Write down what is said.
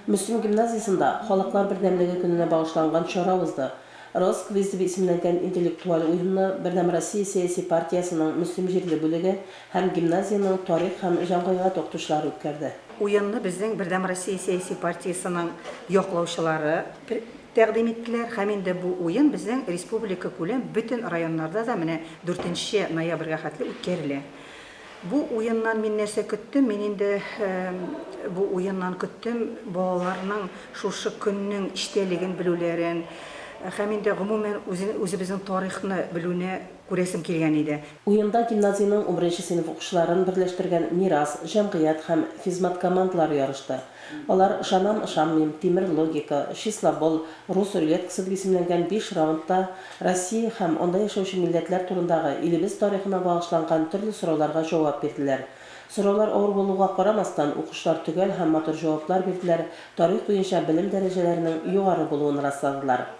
Мөслим гимназиясендә Халыклар бердәмлеге көненә багышланган чара узды. Рос. Квиз дип исемләнгән интеллектуаль уенны Бердәм Россия сәяси партиясенең Мөслим җирле бүлеге һәм гимназиянең тарих һәм җәмгыйгать укытучылары үткәрде. Уенны безнең Бердәм Россия сәяси партиясенең яклаучылары тәкъдим иттеләр һәм инде бу уен безнең республикакүләм бөтен районнарда да менә дүртенче ноябрьгә хәтле үткәрелә. Бу уеннан мин нәрсә көттем? Мин инде бу уеннан көттем балаларның шушы көннең эчтәлеген белүләрен һәм инде гомумән үзебезнең тарихны белүне күрәсем килгән иде. Уенда гимназиянең унберенче сыйныф укучыларын берләштергән Мирас, Җәмгыять һәм Физмат командалары ярышты. Алар Ышанам-ышанмыйм, Тимер логика, Числобол, Рус рулеткасы дип исемләнгән биш раундта Россия һәм анда яшәүче милләтләр турындагы, илебез тарихына багышланган төрле сорауларга җавап бирделәр. Сораулар авыр булуга карамастан, укучылар төгәл һәм матур җаваплар бирделәр, тарих буенча белем дәрәҗәләренең югары булуын расладылар.